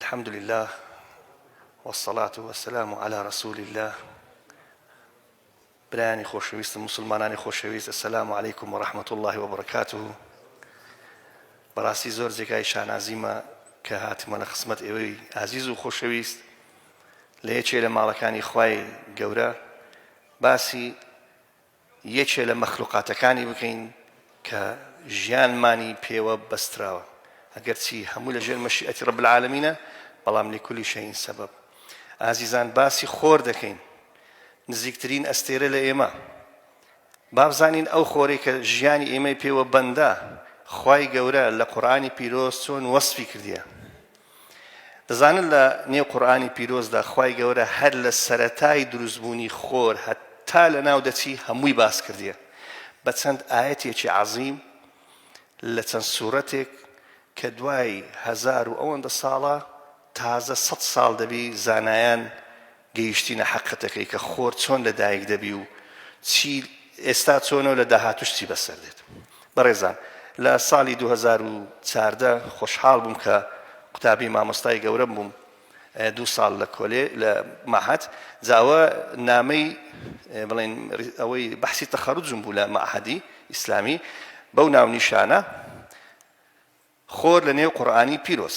الحمد للە والصلاة والسلام علی رسول اللە برایانی خۆشەویستم مسلمانانی خۆشەویست السلام علیکم و رحمت الله و برکاته بەڕاستی زۆر جێگای شانازیمە کە هاتمە لە خسمەت ئێوەی ئازیز و خۆشەویست لە یەکێ لە ماڵەکانی خوای گەورە باسی یەکێ لە مەخلوقاتەکانی بکەین کە ژیانمانی پێوە بەستراوە ئەگەرچی هەموو لە ژێر مەشیئەتی رب العالمینە بەڵام لکل شیء سبب ئازیزان باسی خۆر دەکەین نزیکترین ئەستێرە لە ئێمە بابزانین ئەو خۆرەی کە ژیانی ئێمەی پێوە بەندە خوای گەورە لە قورآانی پیرۆز چۆن وەسفی کردیە دەزانن لە نێو قورئانی پیرۆزدا خوای گەورە هەر لە سەرەتای دروستبوونی خۆر هەتا لە ناو دەچی هەمووی باس کردیە بە چەند ئاەتێکی عەزیم لە چەند سوورەتێک کە دوای هزار و ئەوەندە ساڵە تازە سە ساڵ دەبی زانایان گەیشتینە حەقیقەتەکەی کە خۆر چۆن لە دایک دەبی و چی ئێستا چۆنە و لە داهاتوش چی بەسەر دێت بەڕێزان لە ساڵی 2014 خۆشحاڵ بووم کە قوتابی مامۆستای گەورەم بووم دوو ساڵ لە کۆلێ لە مەحەد جاوە نامەی بڵێن ئەوەی بەحسی تەخەرجم بوو لە مەحەدی ئیسلامی بەو ناو نیشانە خۆر لە نێو قورآانی پیرۆز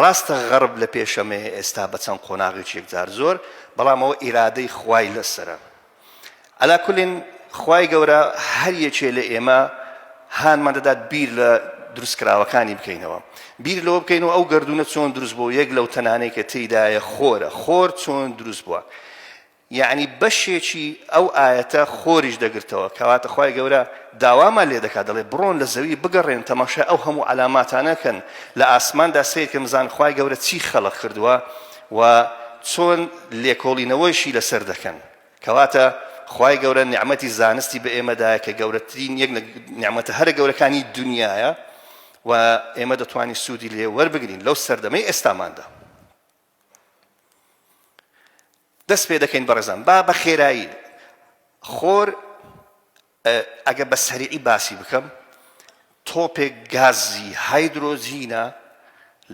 ڕاستە غەرب لە پێشەمەیە ئێستا بە چەند قۆناغێکی یەکجار زۆر بەڵام ئەوە ئیرادەی خوای لەسەرە عەلا کولین خوای گەورە هەر یەکێ لە ئێمە هانمان دەدات بیر لە دروست کراوەکانی بکەینەوە بیر لەوە بکەین و ئەو گردونە چۆن دروست بۆ یەک لەو تەنانەی کە تێدایە خۆرە خۆر چۆن دروست بووە یەعنی بەشێکی ئەو ئایەتە خۆریش دەگرتەوە، کەواتە خوای گەورە داوامان لێدەکات دەڵێت، بڕۆن لە زەوی بگەڕێن تەماشای ئەو هەموو عەلاماتانە کەن لە ئاسماندا سەیرکەن بزانن خوای گەورە چی خەڵق کردووە و چۆن لێکۆڵینەوەیشی لەسەر دەکەن، کەواتە خوای گەورە نیعمەتی زانستی بە ئێمە دایە کە گەورەترین یەک لە نیعمەتە هەرە گەورەکانی دونیایە و ئێمە دەتوانین سوودی لێ وەربگرین لەو سەردەمەی ئێستاماندا. دەست پێ دەکەین بەڕێزان با بە خێرایی خۆر ئەگە بە سەریعی باسی بکەم تۆپێک گازی هایدرۆجینە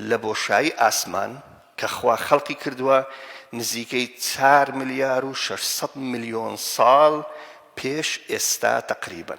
لە بۆشایی ئاسمان کە خوا خەڵقی کردووە نزیکەی 4 ملیار و 600 میلیۆن ساڵ پێش ئێستا تقریبن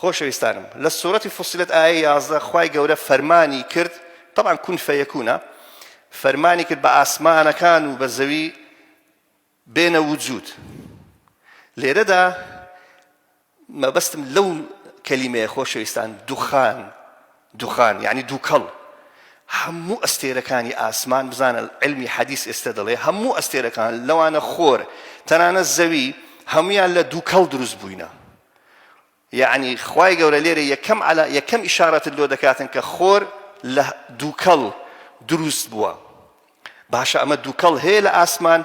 خۆشەویستانم لە سورەتی فصلت ئایەی یازدە خوای گەورە فەرمانی کرد تەبعەن کون فەیەکونە فەرمانی کرد بە ئاسمانەکان و بە زەوی بێنە وجود لێرەدا مەبەستم لەو کەلیمەیە خۆشەویستان دوخان دوخان یعنی دووکەڵ هەموو ئەستێرەکانی ئاسمان بزانە علمی حەدیث ئێستا دەڵێ هەموو ئەستێرەکان لەوانە خۆر تەنانە زەوی هەمویان لە دووکەڵ دروست بووینە یەعنی خوای گەورە لێرە یەکەم عەلا یەکەم ئیشارەتت لۆ دەکاتن کە خۆر لە دووکەڵ دروست بووە باشە ئەمە دووکەڵ هەیە لە ئاسمان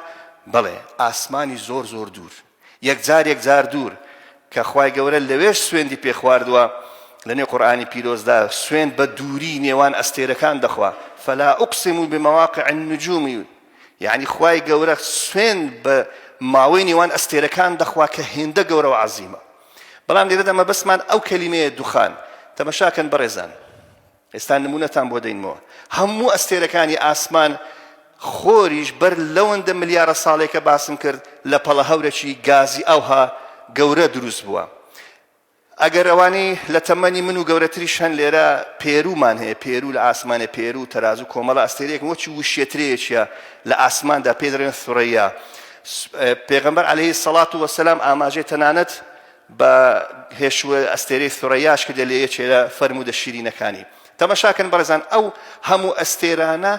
بەڵێ ئاسمانی زۆر زۆر دوور یەکجار یەکجار دوور کە خوای گەورە لەوێش سوێندی پێخواردووە لەنێ قورآانی پیرۆزدا سوێن بە دووری نێوان ئەستێرەکان دەخوا فلا ئوقسم و بمەواقع النجومی یەعنی خوای گەورە سوێند بە ماوەی نێوان ئەستێرەکان دەخوا کە هێندە گەورە و عەزیمە بەڵام لێرەدا مەبەستمان ئەو کەلیمەیە دوخان تەمەشاکەن بەڕێزان ئێستا نمونەتان بۆ دەینمەوە هەموو ئەستێرەکانی ئاسمان خۆریش بەر لەوەندە ملیارە ساڵێکە باسم کرد لە پەڵە هەورەکی گازی ئەوها گەورە دروست بووە ئەگەر ئەوانەی لە تەمەنی من و گەورەتریش هەن لێرە پێروومان هەیە، پێروو لە ئاسمانێ پێروو و تەرازوو کۆمەڵە ئەستێرەیەکن وەکی وشێترەیەکە لە ئاسماندا پێی دەڵێن ثرەیا. پێغەمبەر عەلەیهی الصڵات وەسەلام ئاماژەی تەنانەت بە هێشووە ئەستێرەی ثرەیاش کردە لە یەکێ لە فەرموودە شیرینەکانی. تەمەشاکەن بەڕێزان ئەو هەموو ئەستێرانە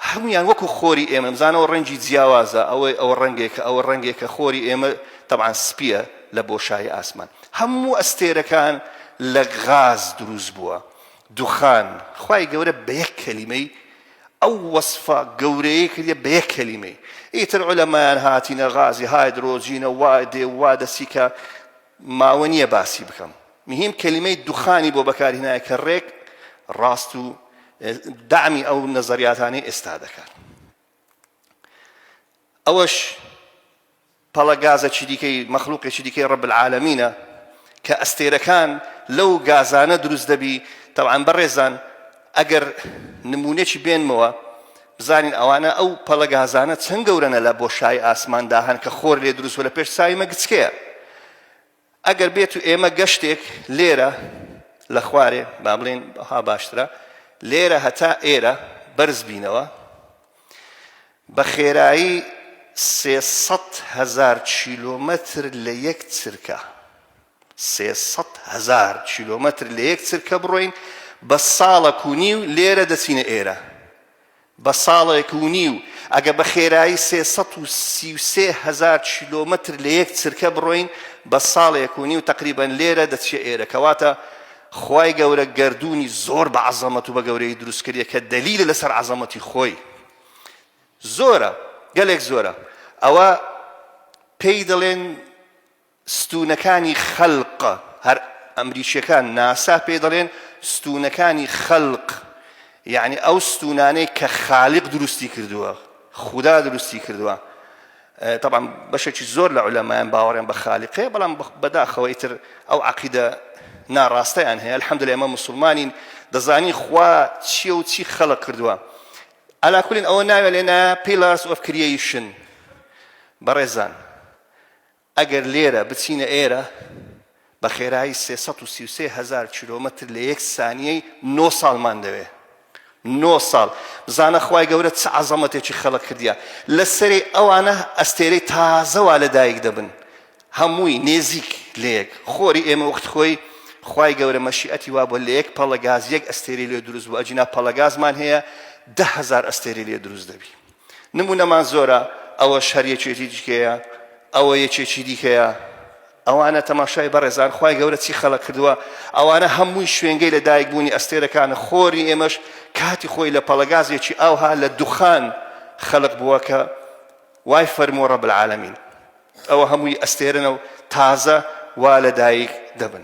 هەموویان وەکو خۆری ئێمە بزانەوە ڕەنگی جیاوازە ئەوەی ئەوە ڕەنگێکە ئەوە ڕەنگێکە خۆری ئێمە تەبعەن سپیە لە بۆشایی ئاسمان هەموو ئەستێرەکان لە غاز دروست بووە دوخان خوای گەورە بە یەک کەلیمەی ئەو وەسفە گەورەیە کردە بە یەک کەلیمەی ئیتر عولەمایان هاتینە غازی هایدرۆجینە وا دێ وا دەسیکە ماوە نیە باسی بکەم مهیم کەلیمەی دوخانی بۆ بەکارهینایە کە ڕێک ڕاست و دامی ئەو نەزەریاتانی ئێستا دەکات ئەوەش پەڵە گازە چی دیکەی مەخلوقی چی دیکەی ڕب العالمینە کە ئەستێرەکان لەو گازانە دروست دەبی تەوان بەڕێزان ئەگەر نمونەی بێنمەوە بزانین ئەوانە ئەو پەڵە گازانە چەند گەورەنە لە بۆشایی ئاسماندا هەن کە خۆر لێ دروست بوو لە پێش چاوی مەگچکەیە ئەگەر بێت و ئێمە گەشتێک لێرە لە خوارێ با بڵێن ها باشترە لێرە هەتا ئێرە بەرز بینەوە بە خێرایی سێسەد هەزار کیلۆمەتر لە یەک چرکە سێ سەد هەزار کیلۆمەتر لە یەک چرکە بڕۆین بە ساڵەک و نیو لێرە دەچینە ئێرە بە ساڵێک و نیو ئەگە بە خێرایی سێ سەد و سی و سێ هەزار کیلۆمەتر لە یەک چرکە بڕۆین بە ساڵێک و نیو تەقریبەن لێرە دەچیە ئێرە کەواتە خوای گەورە گەردوونی زۆر بە عەزەمەت و بە گەورەیی دروست کردیە کە دەلیلە لەسەر عەزەمەتی خۆی زۆرە گەلێک زۆرە ئەوە پێی دەڵێن ستوونەکانی خەلق، هەر ئەمریکییەکان ناسا پێی دەڵێن ستوونەکانی خەلق، یەعنی ئەو ستوونانەی کە خالیق دروستی کردووە، خودا دروستی کردووە. تەبعەن بەشێکی زۆر لە عولەمایان باوەڕیان بە خالیق هەیە، بەڵام بەداخەوە ئیتر ئەو عەقیدە ناڕاستەیان هەیە. الحمدللە ئێمە موسڵمانین دەزانین خوا چییە و چی خەلق کردووە. عەلا کولین ئەوە ناوێ لێنا پیلارس ئۆف کریەیشن. بەڕێزان ئەگەر لێرە بچینە ئێرە بە خێرایی سێ سەد و سی و سێ هەزار کیلۆمەتر لە یەک سانیەی نۆ ساڵمان دەوێ نۆ ساڵ بزانە خوای گەورە چ عەزەمەتێکی خەڵق کردیە لە سەری ئەوانە ئەستێرەی تازەوا لە دایک دەبن هەمووی نێزیک لەیەک خۆری ئێمە وەخت خۆی خوای گەورە مەشیئەتی وا بۆ لە یەک پەڵە گاز یەک ئەستێری لێ دروست بوو ئەجینا پەڵە گازمان هەیە دە هەزار ئەستێری لێ دروست دەبی نمونەمان زۆرە، ئەوەش هەر یەکێتی دیکەیە، ئەوە یەکێکی دیکەیە، ئەوانە تەماشای بەڕێزان خوای گەورە چی خەڵق کردووە، ئەوانە هەمووی شوێنگەی لە دایک بوونی ئەستێرەکانە، خۆری ئێمەش کاتی خۆی لە پەڵەگازێکی ئاوها لە دوخان خەڵق بووە کە وای فەرمووە رب العالمین، ئەوە هەمووی ئەستێرەنە و تازە وا لە دایک دەبن.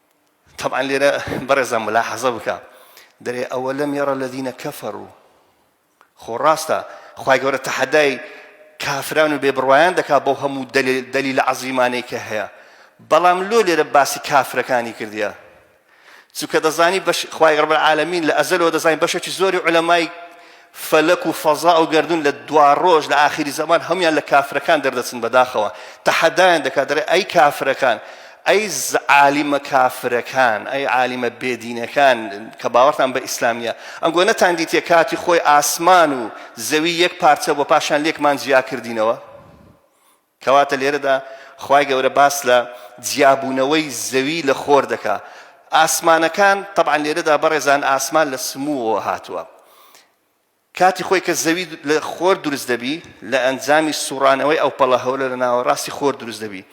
تەبعەن لێرە بەڕێزان ملاحەزە بکە دەرێ ئەوە لەم یەڕە لەدینە کەفەر و خۆ ڕاستە خی گەورە تەحەدای کافران و بێ بڕوایان دەکا بۆ هەموو دەلی لە عەزیمانەی کە هەیە بەڵام لۆ لێرە باسی کافرەکانی کردیە چونکە دەزانی خی ڕبەر عالمین لە ئەزەلەوە دەزانین بەشێکی زۆری علەمای فەلەک و فەزا و گەردوون لە دواڕۆژ لە ئاخری زەمان هەموویان لە کافرەکان دەردەچن بەداخەوە تەحەدایان دەکات دەڵێ ئەی کافرەکان ئەی عالیمە کافرەکان ئەی عالیمە بێدینەکان کە باوەڕتان بە ئیسلام نیە ئەنگۆ نەتان دیتە کاتی خۆی ئاسمان و زەوی یەک پارچە بۆ پاشان لێکمان جیا کردینەوە کەواتە لێرەدا خوای گەورە باس لە جیابوونەوەی زەوی لە خۆر دەکا ئاسمانەکان طبعا لێرەدا بەڕێزان ئاسمان لە سمووەوە هاتووە کاتی خۆی کە زەوی لە خۆر دروست دەبی لە ئەنجامی سوڕانەوەی ئەو پەڵە هەولە لە ناوە ڕاستی خۆر دروست دەبی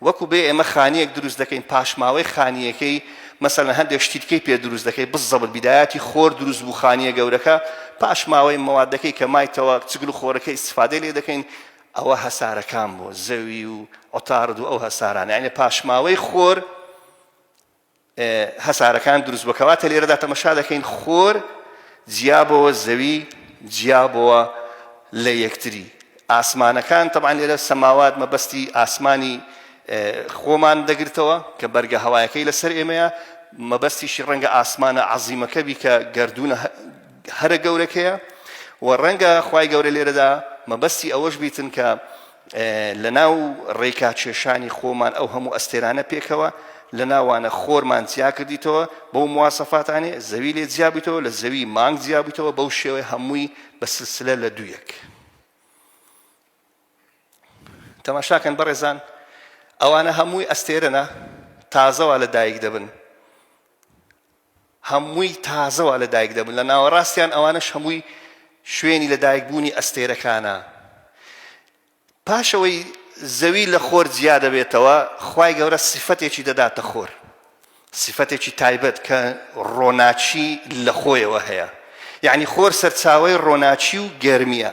وەکو بێ ئێمە خانیەک دروست دەکەین پاشماوەی خانیەکەی مەسەن هەندێک شتیتکەی پێ دروست دەکەی بزەبت بیدایەتی خۆر دروست بوو خانیە گەورەکە پاشماوەی مەوادەکەی کە مایتەوە چگل و خۆرەکە ئیسفادە لێ دەکەین ئەوە هەسارەکان بۆ زەوی و عوتارد و ئەو هەسارانە یعنی پاشماوەی خۆر هەسارەکان دروست بۆ کەواتە لێرەدا تەمەشا دەکەین خۆر جیابەوە زەوی جیابەوە لە یەکتری ئاسمانەکان تەبان لێرە سەماوات مەبەستی ئاسمانی خۆمان دەگرتەوە کە بەرگە هەوایەکەی لەسەر ئێمەیە مەبەستیشی ڕەنگە ئاسمانە عزیمەکەبی کە گردونە هەرە گەورەکەیە و ڕەنگە خوای گەورە لێرەدا مەبەستی ئەوەش بیتن کە لە ناو ڕێکا کێشانی خۆمان ئەو هەموو ئەستێرانە پێکەوە لە ناوانە خۆرمان جیا کردیتەوە بەو موواسەفاتانێ زەوی لێ جیابیتەوە لە زەوی مانگ جیابیتەوە بەو شێوەی هەمووی بە سلسلە لە دوویەک تەماشاکەن بەڕێزان ئەوانە هەمووی ئەستێرەە تازەوە لە دایک دەبن هەمووی تازەوە لە دایک دەبن لە ناوەڕاستیان ئەوانەش هەمووی شوێنی لە دایک بوونی ئەستێرەکانە پاشەوەی زەوی لە خۆر جیا دەبێتەوە خوای گەورە سیفەتێکی دەداتە خۆر سیفەتێکی تایبەت کە ڕۆناچی لە خۆیەوە هەیە یعنی خۆر سەرچاوی ڕۆناچی و گەرمیە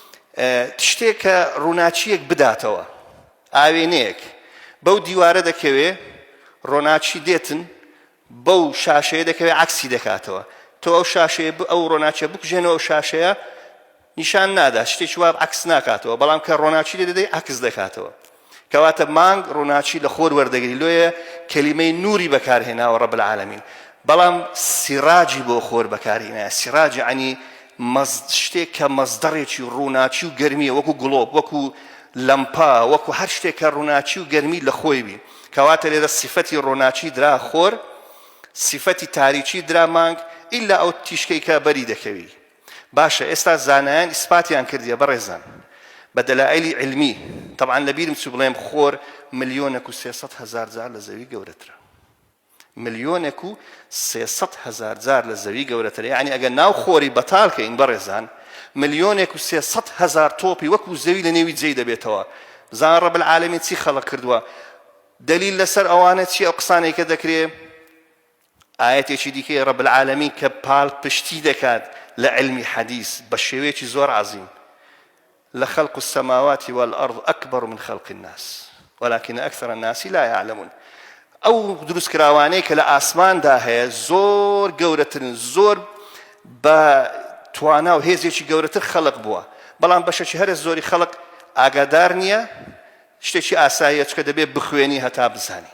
تشتێک کە ڕووناکییەک بداتەوە، ئاوێنەیەک بەو دیوارە دەکەوێ، ڕۆناکی دێتن بەو شاشەیە دەکەوێ عکسی دەکاتەوە، تۆ ئەو شاشەیە ئەو ڕۆناکیە بکوژێنەوە ئەو شاشەیە نیشان نادا شتێکی واب عکس ناکاتەوە، بەڵام کە ڕۆناکی لێ دەدەی عکس دەکاتەوە. کەواتە مانگ ڕووناکی لە خۆر وەردەگری لۆیە کەلیمەی نوری بەکارهێناوە ڕەب العالمین بەڵام سیڕاجی بۆ خۆر بەکارهێنایە سیڕاجی عنی شتێک کە مەزدەڕێکی ڕووناکی و گەرمیە وەکو گڵۆب وەکو لەمپا وەکو هەر شتێک کە ڕووناکی و گەرمی لە خۆی بی کەواتە لێرە سیفەتی ڕۆناچی درا خۆر سیفەتی تاریکی درا مانگ ئیلا ئەو تیشکەی کە بەری دەکەوی باشە ئێستا زانایان ئیسپاتیان کردیە بەڕێزان بە دەلائلی علمی تەبعان لە بیرم چوو بڵێم خۆر ملیۆنێک و سێ سەد هەزار جار لە زەوی گەورەترە ملیۆنێک و سێ سەد هەزار جار لە زەوی گەورەترە یعنی ئەگە ناو خۆری بەتال کە ئین بەڕێزان ملیۆنێک و سێ سەد هەزار تۆپی وەکو زەوی لە نێوی جێی دەبێتەوە زان ڕەب العالمین چی خەڵق کردووە دلیل لەسەر ئەوانە چی ئەو قسانێکە دەکرێ ئایەتێکی دیکەی ڕەب العالەمین کە پاڵپشتی دەکات لە عیلمی حەدیس بە شێوەیەکی زۆر عەزیم لخلق السماوات والأرض أكبر من خلق الناس ولكن أكثر الناس لا يعلمون ئەو دروست کراوانەی کە لە ئاسماندا هەیە زۆر گەورەترن زۆر بە توانا و هێزێکی گەورەتر خەڵق بووە بەڵام بەشەکی هەرە زۆری خەڵق ئاگادار نییە شتێکی ئاساییە چکە دەبێت بخوێنی هەتا بزانی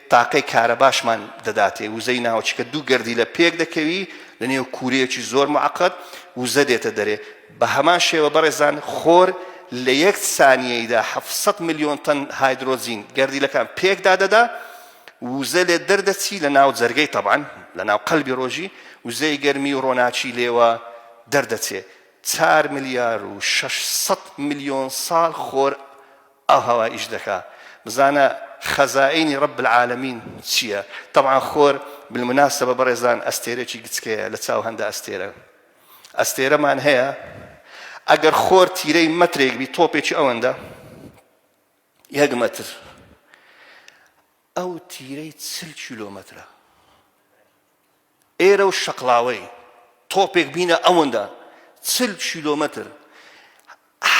تاقەی کارەباشمان دەداتێ، وزەی ناوچەکە دوو گەردیلە پێک دەکەوی لە نێو کوورەیەکی زۆر موعەقەد وزە دێتە دەرێ، بە هەمان شێوە بەڕێزان خۆر لە یەک سانیەیدا حەفت سەد ملیۆن تەن هایدرۆجین گەردیلەکان پێک دادەدا وزە لێ دەردەچی لە ناو جەرگەی تەبعەن لە ناو قەلبی ڕۆژی وزەی گەرمی و ڕۆناکی لێوە دەردەچێ چار ملیار و شەش سەد ملیۆن ساڵ خۆر ئاو هەوا ئیش دەکا بزانە خەزائینی رب العالمین چیە تەبعەن خۆر بالمناسبە بەڕێزان ئەستێرەکی گچکەیە لە چاو هەندە ئەستێرە ئەستێرەمان هەیە ئەگەر خۆر تیرەی مەترێک بی تۆپێکی ئەوەندە یەک مەتر ئەو تیرەی چل کیلۆمەترە ئێرە و شەقڵاوەی تۆپێک بینە ئەوەندە چل کیلۆمەتر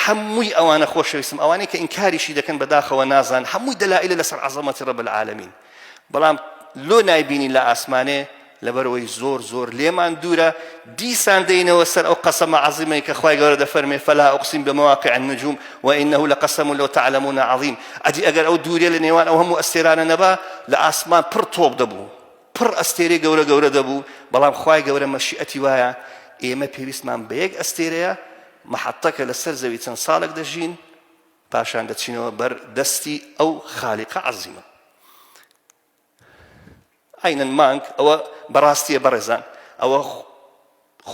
هەمووی ئەوانە خۆشەویستم ئەوانەی کە ئینکاریشی دەکەن بەداخەوە نازان هەمووی دەلائلە لەسەر عەزەمەتی ڕەب العالمین بەڵام لۆ نایبینی لە ئاسمانێ لەبەرەوەی زۆر زۆر لێمان دوورە دیسان دەینەوە سەر ئەو قەسەمە عظیمەی کە خخوای گەورە دەفەرمێ فلا ئۆقسیم بە مواقع نجوم و إنه لە قەسەم و لەو تعلمون عظیم ئەدی ئەگەر ئەو دوورێ لە نێوان ئەو هەموو ئەستێرانە نەبا لە ئاسمان پڕ تۆپ دەبوو پڕ ئەستێرەی گەورە گەورە دەبوو، بەڵام خوای گەورە مەشیئەتی وایە ئێمە پێویستمان بە یەک ئەستێرەیە مەحەتەکە لەسەر زەوی چەند ساڵێک دەژین پاشان دەچینەوە بەر دەستی ئەو خالیقە عەزیمە عینەن مانگ ئەوە بەڕاستیە بەڕێزان ئەوە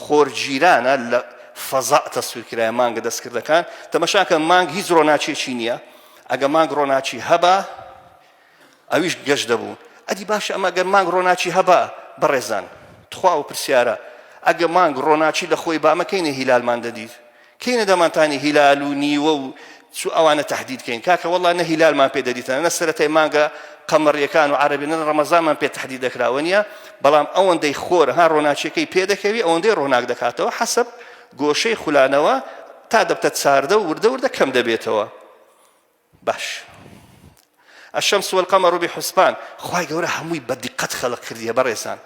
خۆرگیرانە لە فەزا تەسویر کرایە مانگە دەستکردەکان تەمەشاکە مانگ هیچ ڕۆناچێکی نییە ئەگە مانگ ڕۆناچی هەبا ئەویش گەشت دەبوو ئەدی باشە ئەمە گەر مانگ ڕۆناچی هەبا بەڕێزان تخوا و پرسیارە ئەگە مانگ ڕۆناچی لە خۆی بامەکەینە هیلالمان دەدیت کەینە دەمانتانی هیلال و نیوە و چو ئەوانە تەحدید کەین کاکە وەڵا نە هیلالمان پێ دەدیتەنە نە سەرەتای مانگە قەمەڕیەکان و عەرەبی نە ڕەمەزانمان پێ تەحدید دەکراوە نیە بەڵام ئەوەندەی خۆر ها ڕۆناچیەکەی پێ دەکەوی ئەوەندەی ڕۆناک دەکاتەوە حەسب گۆشەی خولانەوە تا دەبتە چاردە و وردە وردە کەم دەبێتەوە باش الشمس والقمر بحسبان خوای گەورە هەمووی بە دیقەت خەلق کردیە بەڕێزان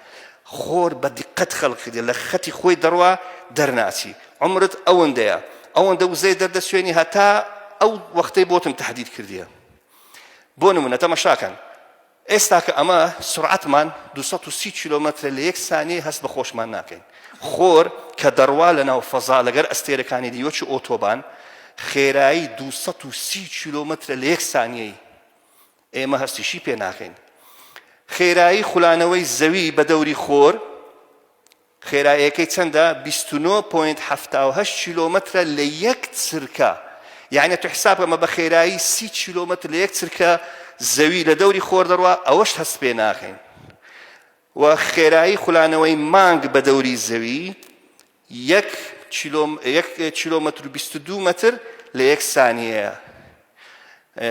خۆر بە دیقەت خەلق کردیە لە خەتی خۆی دەڕوا دەرناچی عمرت ئەوەندەیە ئەوەندە وزەی دەردەسوێنی هەتا ئەو وەختەی بۆتم تهدید کردیە بۆ نمونە تەمەشاکەن ئێستا کە ئەمە سورعەتمان دوو سەد و سی کیلۆمەترە لە یەک سانیەی هەست بە خۆشمان ناکەین خۆر کە دەڕوا لە ناو فەزا لەگەر ئەستێرەکانی دی وەکی ئۆتۆبان خێرایی دوو سەد و سی کیلۆمەترە لە یەک سانیەی ئێمە هەستیشی پێ ناکەین خێرایی خولانەوەی زەوی بە دەوری خۆر خێرایەکەی چەندە بیست و نۆ پۆینت حەفتا و هەشت کیلۆمەترە لە یەک چرکە یانە تو حساب کە مە بە خێرایی سی کیلۆمەتر لە یەک چرکە زەوی لە دەوری خۆر دەڕوا ئەوەش هەست پێ ناخین و خێرایی خولانەوەی مانگ بە دەوری زەوی یەک کیلۆمەتر و بیست و دوو مەتر لە یەک سانیەیە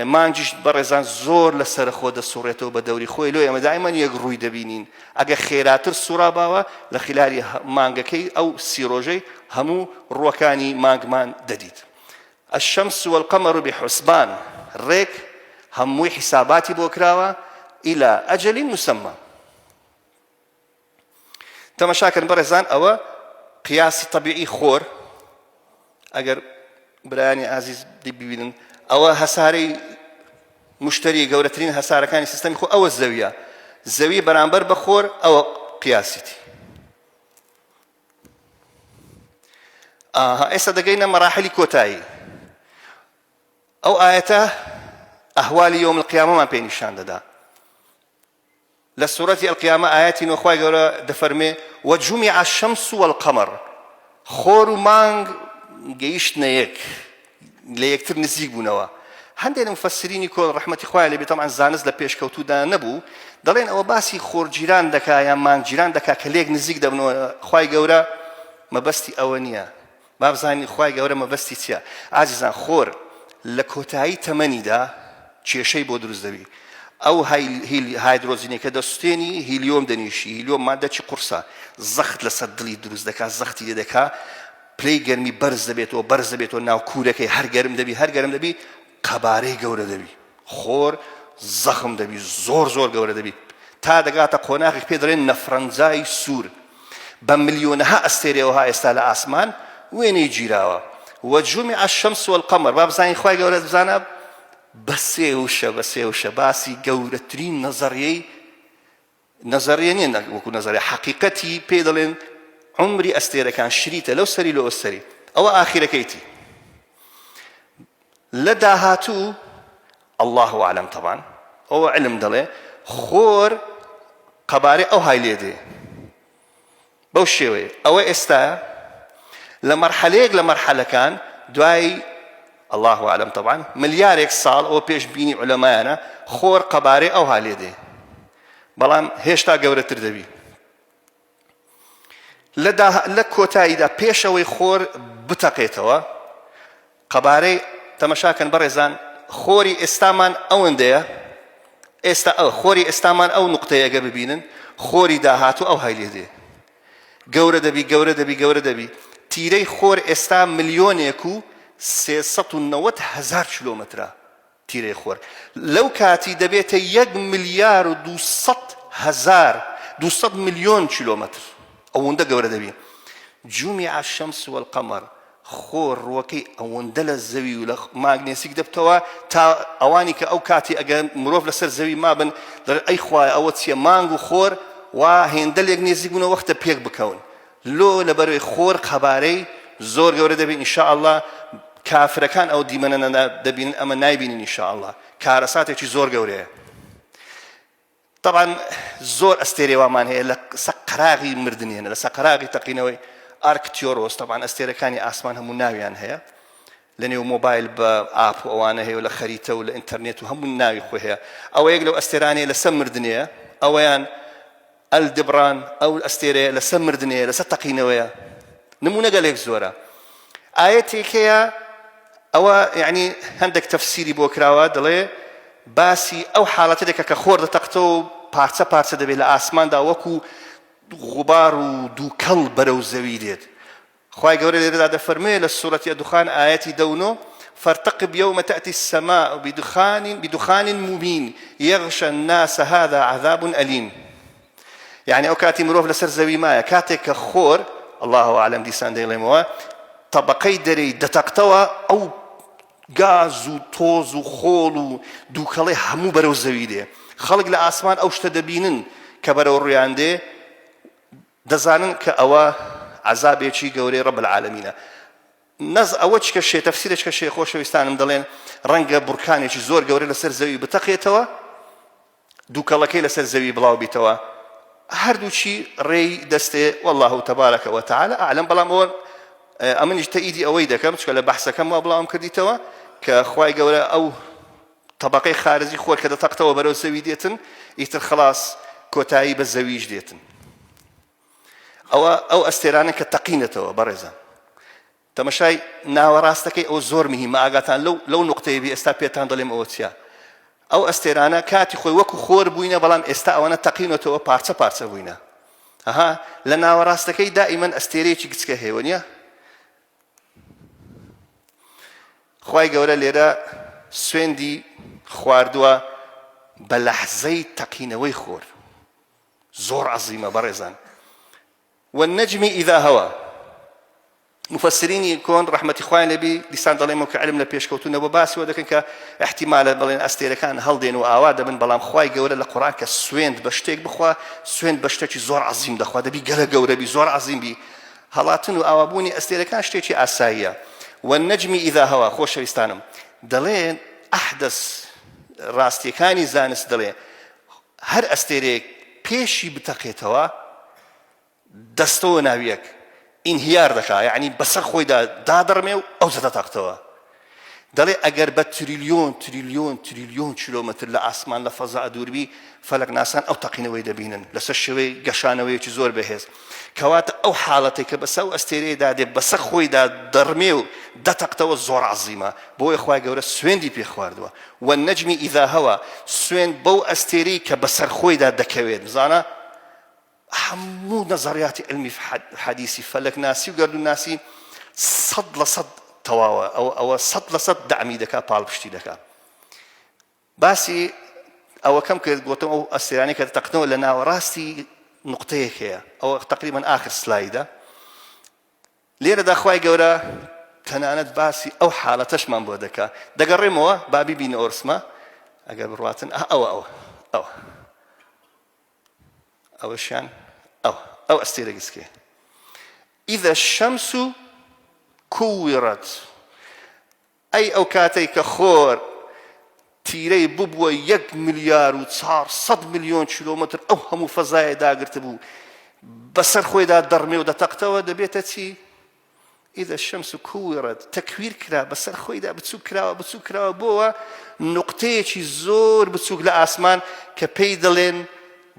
مانگیش بەڕێزان زۆر لە سەرەخۆ دەسوڕێتەوە بە دەوری خۆی لۆ ئێمە دایمەن یەک ڕووی دەبینین ئەگە خێراتر سوڕاباوە لە خلاری مانگەکەی ئەو سیرۆژەی هەموو ڕووەکانی مانگمان دەدیت الشمس والقمر بحسبان ڕێک هەمووی حیساباتی بۆ کراوە إلى أجل مسمى تەمەشاکەن بەڕێزان ئەوە قیاسی طبیعی خۆر ئەگەر برایانی ئازیز دیبیبینن ئەوە هەسارەی مشتری گەورەترین هەسارەکانی سیستەمی خۆ ئەوە زەویە زەوی بەرامبەر بە خۆر ئەوە قیاسیتی ئێستا دەگەینە مەراحلی کۆتایی ئەو ئاەتە ئەهوالی یۆم القیامەمان پێ نیشان دەدا لە سورەتی القیامە ئایەتی نۆ خوای گەورە دەفەرمێ وجمع الشمس والقمر خۆر و مانگ گەیشتنە یەک لە یەکتر نزیک بوونەوە هەندێک لە مفسرینی کۆل ڕحمەتی خوای لێبێ تەمان زانست لە پێشکەوتودا نەبوو دەڵێن ئەوە باسی خۆرگیران دەکا یان مانگگیران دەکا کە لێک نزیک دەبنەوە خوای گەورە مەبەستی ئەوە نییە بابزانین خوای گەورە مەبەستی چیە ئازیزان خۆر لە کۆتایی تەمەنیدا کێشەی بۆ دروست دەبی ئەو هایدرۆزینەکە دەسوستێنی هیلیۆم دەنیشی هیلیۆم مادەکی قورسە زەخت لەسەر دڵی دروست دەکا زەختی لێ دەکا پلەی گەرمی بەرز دەبێتەوە بەرز دەبێتەوە ناو کوورەکەی هەر گەرم دەبی هەر گەرم دەبی قەبارەی گەورە دەبی خۆر زەخم دەبی زۆر زۆر گەورە دەبی تا دەگاتە قۆناغێک پێ دەڵێن نەفرەنجای سوور بە ملیۆنەها ئەستێرەوەها ئێستا لە ئاسمان وێنەی گیراوە وجمع الشمس والقمر با بزانین خوای گەورە بزانە بە سێ وشە بە سێ وشە باسی گەورەترین نەزەڕیەی نەزەریە نیە نە وەکو نەزەریە حەقیقەتی پێ دەڵێن عمری ئەستێرەکان شریتە لەو سەری لە ئەوسەری ئەوە ئاخیرەکەیتی لە داهاتوو الله عالم طبعا ئەوە علم دەڵێ خۆر قەبارەی ئەو های لێ دێ بەو شێوەیە ئەوە ئێستایە لە مەرحەلەیەک لە مەرحەلەکان دوای الله اعلم طبعا ملیارێک ساڵ ئەو پێش بینی علەمایانە خۆر قەبارەی ئەوها لێ دێ بەڵام هێشتا گەورەتر دەبی لە کۆتاییدا پێشەوەی خۆر بتەقێتەوە قەبارەی تەمەشا کەن بەڕێزان خۆری ئێستامان ئەوەندەیە ئێستا ئەو خۆری ئێستامان ئەو نقطەیە ئەگەر ببینن خۆری داهاتوو ئەو هایلێ دێ گەورە دەبی گەورە دەبی گەورە دەبی تیرەی خۆر ئێستا ملیۆنێک و سێ سەد و نەوەد هەزار کیلۆمەترە تیرەی خۆر لەو کاتی دەبێتە یەک ملیار و دوو سەد هەزار دوو سەد ملیۆن کیلۆمەتر ئەوەندە گەورە دەبی جومی عشەمس وەلقەمەر خۆ ڕوەکەی ئەوەندە لە زەوی و لە ماگنێسیک دەبتەوە تا ئەوانی کە ئەو کاتی ئەگەر مرۆڤ لەسەر زەوی مابن دەر ئەی خوای ئەوە چیە مانگ و خۆر وا هێندە لێک نێزیک بوونە وەختە پێک بکەون لۆ لەبەروی خۆر قەبارەی زۆر گەورە دەبین ان شاء اللە کافرەکان ئەو دیمەنەنە دەبینن ئەمە نایبینین ان شاء اللە کارەساتێکی زۆر گەورەیە طبعا زۆر ئەستێرێ وامان هەیە لە سەقراغی مردنێنە لە سەقراغی تەقینەوەی ئارکتیۆرۆس طبعا ئەستێرەکانی ئاسمان هەموو ناویان هەیە لە نێو مۆبایل بە ئاپ و ئەوانە هەیە لە خەریتە و لە ئینتەرنێت و هەموو ناوی خۆ هەیە ئەوە یەک لەو ئەستێرانەیە لەسەر مردنەیە ئەوەیان ئەل دبران ئەو ئەستێرەیە لەسەر مردنێ لەسەر تەقینەوەیە نمونەگەلێک زۆرە ئایەتێک هەیە ئەوە یعنی هەندێک تەفسیری بۆ کراوە دەڵێ باسی ئەو حاڵەتە دەکە کە خۆر دەتەقتەوە پارچە پارچە دەبێت لە ئاسماندا وەکو غوبار و دووکەڵ بەرەو زەوی دێت خوای گەورە لێرەدا دەفەرموێ لە سورەتی الدخان ئایەتی دە و نۆ فارتقب یوم تاتی السماء بدخان بدخان مبین یغش الناس هذا عذاب الیم یعنی ئەو کاتی مرۆڤ لەسەر زەوی مایە کاتێک کە خۆر الله عالم دیسان دەیڵێمەوە طبقەی دەرەی دەتەقتەوە ئەو گاز و تۆز و خۆڵ و دووکەڵی هەموو بەرەو زەوی دێ خەڵک لە ئاسمان ئەو شتە دەبینن کە بەرەو ڕویان دێ دەزانن کە ئەوە عەزابێکی گەورەی ڕەب العالەمینە نەز ئەوە چ کە شێ تەفسیرە چ کە شێ خۆشەویستانم دەڵێن ڕەنگە بڕکانێکی زۆر گەورە لەسەر زەوی بتەقێتەوە دووکەڵەکەی لەسەر زەوی بڵاو بیتەوە هەردووچی ڕێی دەستێ والله تبارەکە وتعاالە ئالم بەڵام ئەوە ئەمنیش تەئیدی ئەوەی دەکەم چکە لە بەحسەکەم وا بڵاوم کردیتەوە کە خی گەورە ئەو تەبەقەی خارجی خۆر کە دەتەقتەوە بەرەو زەوی دێتن ئیتر خەڵاس کۆتایی بە زەویش دێتن ئەوە ئەو ئەستێرانە کە تەقینەتەوە بەڕێزان تەمەشای ناوەڕاستەکەی ئەو زۆر مهمە ئاگاتان لەو لەو نقطەیە بی ئێستا پێتان دەڵێم ئەوە چیە ئەو ئەستێرانە کاتی خۆی وەکو خۆر بووینە بەڵام ئێستا ئەوەنە تەقینەتەوە پارچە پارچە بووینە ئەها لە ناوەڕاستەکەی دائیمەن ئەستێرەیەکی گچکە هێوە نیە خوای گەورە لێرە سوێندی خواردووە بە لەحزەی تەقینەوەی خۆر زۆر عەزیمە بەڕێزان و نەجمی ئیدا هەوە مفسرینی کۆن ڕحمەتی خوای لەبی دیسان دەڵێمەوە کە علم لە پێشکەوتونە بۆ باسیەوە دەکەن کە احتیمالە بڵێن ئەستێرەکان هەڵدێن و ئاوا دەبن بەڵام خی گەورە لە قڕان کە سوێند بە شتێک بخوا سوێن بە شتێکی زۆر عظیم دەخوا دەبی گەلە گەورەبی زۆر عظیم بی هەڵاتن و ئاوابوونی ئەستێرەکان شتێکی ئاساییە. والنجم اذا هوا خۆشەویستانم دەڵێن احدث ڕاستیەکانی زانست دەڵێ هەر ئەستێرەیەک پێشی بتەقێتەوە دەستەوە ناویەک انهیار دەکا یەعنی بەسەر خۆیدا دادەڕمێ و ئەوجە دەتەقتەوە. دەڵێ ئەگەر بە تریلیۆن تریلیۆن تریلیۆن کیلۆمەتر لە ئاسمان لە فەزا دووربی، فەلەکناسان ئەو تەقینەوەی دەبینن لەسەر شێوەی گەشانەوەیەکی زۆر بەهێز. کەواتە ئەو حاڵەتەی کە بەسە ئەو ئەستێرەیەدا دێ، بەسە خۆیدا دەڕمێ و دەتەقتەوە زۆر عەزیمە. بۆیە خوای گەورە سوێندی پێ خواردووە، والنجم اذا هوی، سوێند بەو ئەستێرەی کە بەسەر خۆیدا دەکەوێت. بزانە! هەموو نەزەڕیاتی علمی حەدیسی فەلەک ناسی و گەردون ناسی سەد لە سەد تەواوە ئەو ئەوە سەد لە سەد دامی دەکا پاڵپشتی دەکا باسی ئەوە کەم کرد گوتم ئەو ئەسیرانی کە تەقنەوە لە ناوەڕاستی نقطەیەک هەیە ئەوە تقریبان آخر سلایدە لێرە داخوای گەورە تەنانەت باسی ئەو حالەتەشمان بۆ دەکا دەگەڕێمەوە بابی بین ئۆرسمە ئەگەر بڕاتن ئەوە ئەوە ئەوە ئەوەشیان ئەو ئەو ئەستێرە گسکێ ئیدە شەمس و کوویڕەت ئەی ئەو کاتێک کە خۆر تیرەی ببووە یەک ملیار و 400 میلیۆن کیلومتر ئەو هەموو فەزایە داگرت بوو بەسەر خۆیدا دەڕمێ و دەتەقتەوە دەبێتە چی اذا الشمس کوورت تەکویر کرا بەسەر خۆیدا بچوک کراوە بچوک کراوە بۆوە نقطەیەکی زۆر بچوک لە ئاسمان کە پێی دەڵێن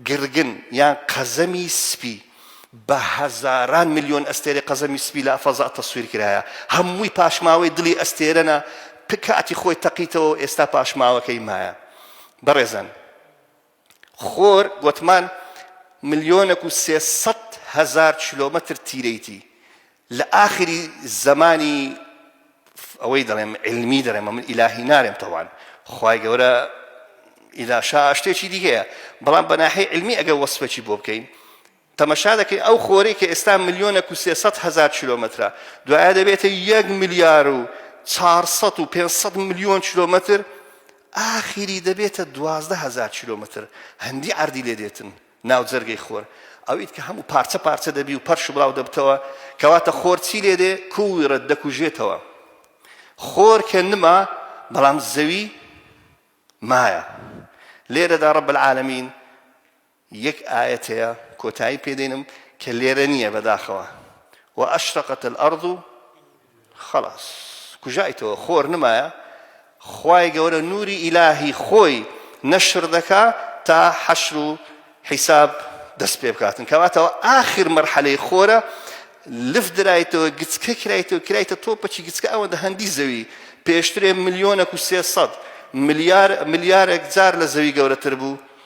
گرگن یان قەزەمی سپی بە هەزاران میلیۆن ئەستێرە قەزەمی سپی لە فەزا تەسویر کرایە هەمووی پاشماوەی دڵی ئەستێرەە پکاتی خۆی تەقیتەوە ئێستا پاشماوەکەی مایە بەڕێزن خۆر گۆتمان ملیۆنەک و سێ سەد هەزار کیلۆمەتر تیرەیتی لە ئاخری زەمانی ئەوەی دەڵێم علمی دەرێمە من ئیلاهی نارێم تەوان خی گەورە ئیلاشا شتێکی دیگەیە بەڵام بەناحی علمی ئەگە وەسفێکی بۆ بکەین تەمەشا دەکەی ئەو خۆرەی کە ئێستا ملیۆنەک و سێ سەد هەزار کیلۆمەترە، دوایە دەبێتە یەک ملیار و چوار سەد و پێنج سەد ملیۆن کیلۆمەتر، ئاخری دەبێتە دوازدە هەزار کیلۆمەتر، هەندی عەردی لێ دێتن ناو جەرگەی خۆر، ئەویت کە هەموو پارچە پارچە دەبی و پەرش و بڵاو دەبتەوە، کەواتە خۆر چی لێ دێ؟ کوورت دەکوژێتەوە. خۆر کە نما، بەڵام زەوی مایە. لێرەدا رب العالمین، یەک ئایەت هەیە کۆتایی پێ دێنم کە لێرە نییە بەداخەوە واشرقت الارض خلاص کوژایتەوە خۆر نمایە خوای گەورە نوری ئیلاهی خۆی نەشر دەکا تا حەشر و حیساب دەست پێ بکاتن کەواتەوە ئاخر مەرحەلەی خۆرە لف درایتەوە گچکە کرایتەوە کرایتە تۆپەکی گچکە ئەوەندە هەندی زەوی پێشترێ ملیۆنە و سێسەد ملیار ملیارێک جار لە زەوی گەورەتر بوو